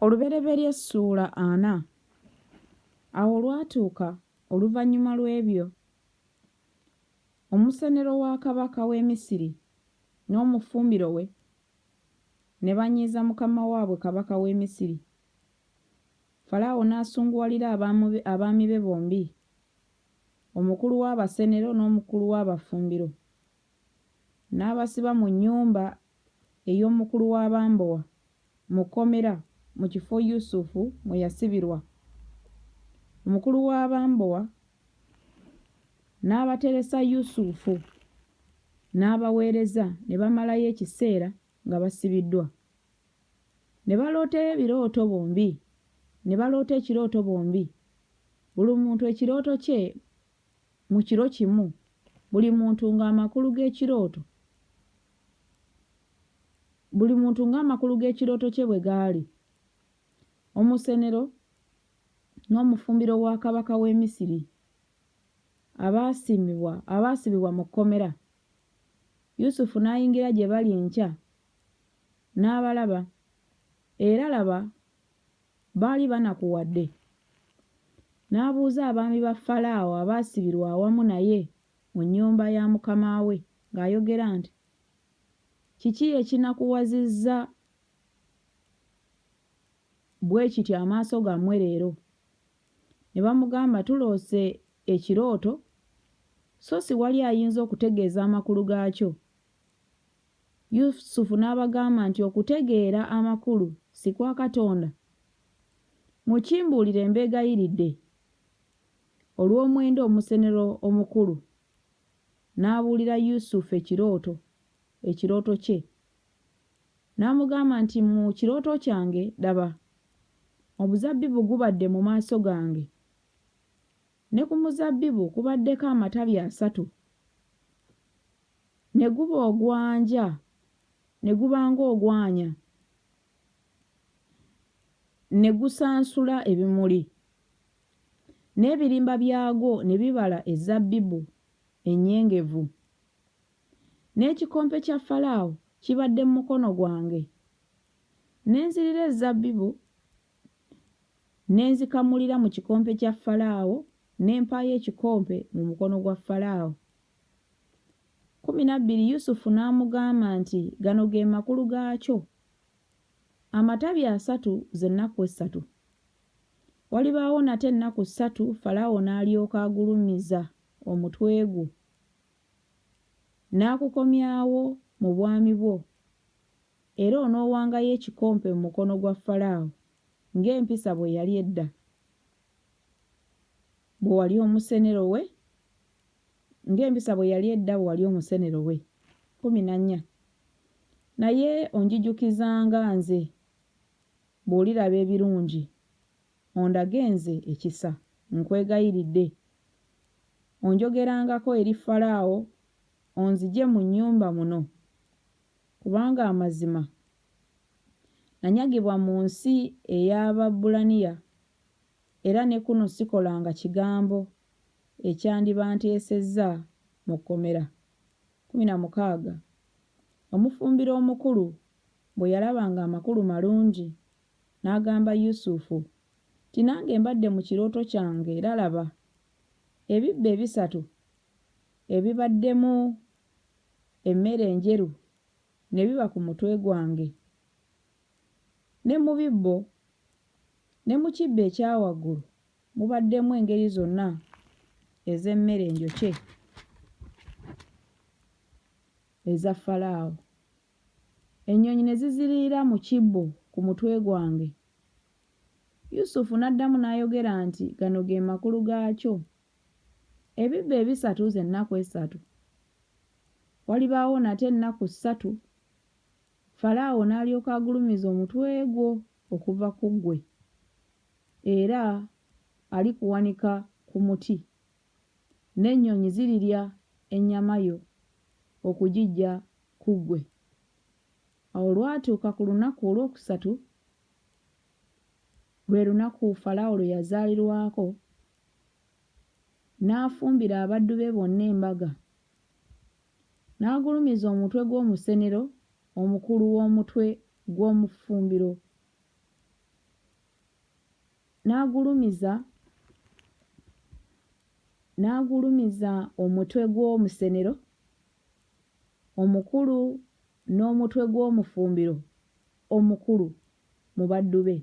Olubereberye Ssuula ana. Awo olwatuuka oluvannyuma lw'ebyo, omusenero wa kabaka w'e Misiri n'omufumbiro we ne banyiiza mukama waabwe kabaka w'e Misiri, Falaawo n'asunguwalira abaami be bombi, omukulu w'abasenero n'omukulu w'abafumbiro, n'abasiba mu nnyumba ey'omukulu w'abambowa mu kkomera mu kifo Yusuf mwe yasibirwa. Omukulu w'abambowa n'abateresa Yusuf n'abaweereza ne bamalayo ekiseera nga basibiddwa. Ne baloota ebirooto bombi ne baloota ekirooto bombi buli muntu ekirooto kye mu kiro kimu buli muntu ng'amakulu g'ekirooto buli muntu ng'amakulu g'ekirooto kye bwe gaali. Omusenero n'omufumbiro wa kabaka w'e Misiri abaasiimibwa abaasibibwa mu kkomera. Yusufu n'ayingira gye bali enkya n'abalaba, era laba Baali banakuwadde. N'abuuza abaami ba Falaawo abaasibirwa awamu naye mu nnyumba ya mukama we ng'ayogera nti, Kiki ekinakuwazizza bwe kityo amaaso gammwe leero? Ne bamugamba, Tuloose ekirooto, so si wali ayinza okutegeeza amakulu gaakyo. Yusufu n'abagamba nti, Okutegeera amakulu si kwa Katonda? Mukimbuulire mbeegayiridde. Olw'omwenda omusenero omukulu n'abuulira Yusufu ekirooto, ekirooto kye. N'amugamba nti, Mu kirooto kyange, laba, omuzabbibu gubadde mu maaso gange, ne ku muzabbibu kubaddeko amatabi asatu. Ne guba ogwanja, ne guba ng'ogwanya, ne gusansula ebimuli, n'ebirimba byagwo ne bibala ezzabbibu ennyengevu. N'ekikompe kya Falaawo kibadde mu mukono gwange, ne nzirira ezzabbibu ne nzikamulira mu kikompe kya Falaawo, ne mpaayo ekikompe mu mukono gwa Falaawo. Kkumi na bbiri Yusufu n'amugamba nti, Gano ge makulu gaakyo, Amatabi asatu ze nnaku essatu. Walibaawo nate ennaku ssatu Falaawo n'alyoka agulumiza omutwe gwo, n'akukomyawo mu bwami bwo, era onoowangayo ekikompe mu mukono gwa Falaawo ng'empisa bwe yali edda, bwe wali omusenero we. ng'empisa bwe yali edda bwe wali omusenero we kkumi na nnya, naye onjijukizanga nze bw'oliraba ebirungi, ondage nze ekisa, nkwegayiridde. Onjogerangako eri Falaawo, onzigye mu nnyumba muno, kubanga amazima nanyagibwa mu nsi ey'Ababbulaniya era ne kuno sikolanga kigambo ekyandibanteesezza mu kkomera. Kkumi na mukaaga, Omufumbiro omukulu bwe yalaba ng'amakulu malungi, n'agamba Yusufu nti, Nange mbadde mu kirooto kyange, era laba, ebibbo ebisatu ebibaddemu emmere enjeru ne biba ku mutwe gwange. Ne mu bibbo ne mu kibbo ekya waggulu mubaddemu engeri zonna ez'emmere enjokye eza Falaawo. Ennyonyi ne ziziriira mu kibbo ku mutwe gwange. Yusufu n'addamu n'ayogera nti, Gano ge makulu gaakyo, Ebibbo ebisatu ze nnaku essatu, walibaawo nate ennaku ssatu Falaawo n'alyoka agulumiza omutwe gwo okuva ku ggwe, era alikuwanika ku muti, n'ennyonyi zirirya ennyama yo okugiggya ku ggwe. Awo olwatuuka ku lunaku olwokusatu, lwe lunaku Falaawo lwe yazaalirwako, n'afumbira abaddu be bonna embaga. N'agulumiza omutwe gw'omusenero omukulu w'omutwe gw'omufumbiro, n'agulumiza n'agulumiza omutwe gw'omusenero omukulu n'omutwe gw'omufumbiro omukulu mu baddu be,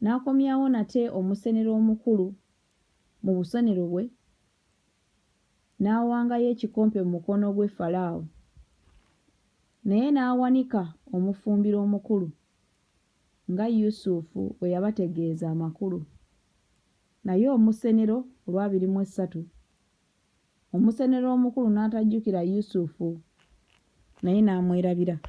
n'akomyawo nate omusenero omukulu mu busonero bwe, n'awangayo ekikompe mu mukono gwe Falaawo, naye n'awanika omufumbiro omukulu nga Yusufu bwe yabategeeza amakulu, naye omusenero olwabiri mu essatu, omusenero omukulu n'atajjukira Yusufu, naye n'amwerabira.